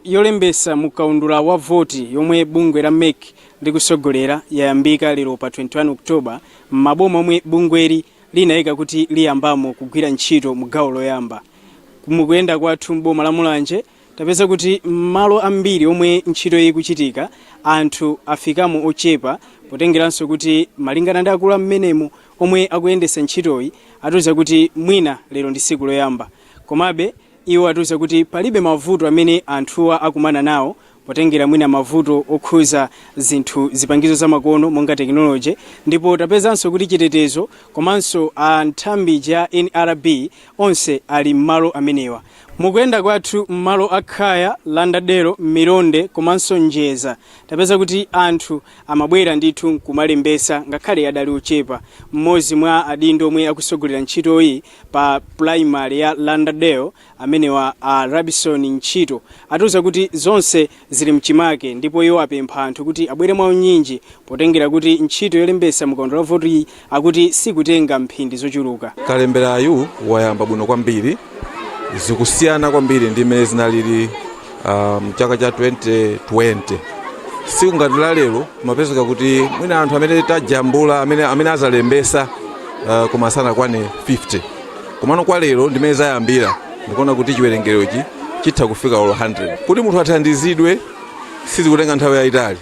yolembetsa mu kaundula wa voti yomwe bungwe la MEC likutsogolera yayambika lero pa 21 October m'maboma omwe bungweli linaika kuti liyambamo kugwira ntchito mu gawo loyamba. Mu kuyenda kwathu m'boma la Mulanje, tapeza kuti m'malo ambiri omwe ntchitoyi ikuchitika, anthu afikamo ochepa potengeranso kuti malingana ndi akulu a m'menemu omwe akuyendetsa ntchitoyi, atiuza kuti mwina lero ndi tsiku loyamba. Komabe, Iwo atiuza kuti palibe mavuto amene anthuwa akumana nawo potengera mwina mavuto okhuza zinthu zipangizo zamakono monga tekinoloje ndipo tapezanso kuti chitetezo komanso a nthambi ija ya NRB onse ali mmalo amenewa. Mukuyenda kwathu mmalo a Khaya, Lauderdale, Milonde komanso Njeza tapeza kuti anthu amabwera ndithu nkumalembesa ngakhale adali ochepa, mmodzi mwa adindo omwe akusogolera ntchitoyi pa pulayimale ya Lauderdale amenewa a Rabison Ntchito atiuza kuti zonse zili mchimake ndipo iwo apempha anthu kuti abwere mwaunyinji potengera kuti ntchito yolembetsa mu kaundula wa votiyi akuti sikutenga mphindi zochuluka. Kalemberayu wayamba bwino kwambiri, zikusiyana kwambiri ndi mmene zinalili ah, mchaka cha 2020 siku ngati la lero zimapezeka kuti mwina anthu amene tajambula amene, amene azalembesa uh, koma sanakwane 50 komano kwa lero ndi mmene zayambira ndikuona kuti chiwerengerochi chitha kufika olo 100 kuti munthu athandizidwe sizikutenga nthawi yayitali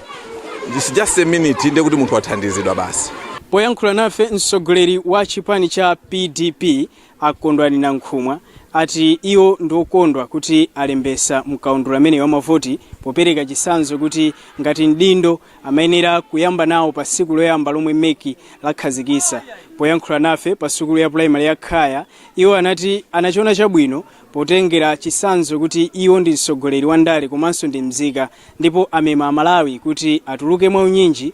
It's just a minute ndiye kuti munthu wathandizidwa basi poyankhula nafe mtsogoleri wa chipani cha PDP A Kondwani Nankhumwa ati iwo ndi okondwa kuti alembesa mkaundula ameneyi wa mavoti popereka chisanzo kuti ngati mdindo amayenera kuyamba nawo pa siku loyamba lomwe MEC lakhazikisa. Poyankhula nafe pa sukulu ya pulayimale ya Khaya iwo anati anachiona chabwino potengera chisanzo kuti iwo ndi mtsogoleri wa ndale komanso ndi mzika ndipo amema a Malawi kuti atuluke mwa unyinji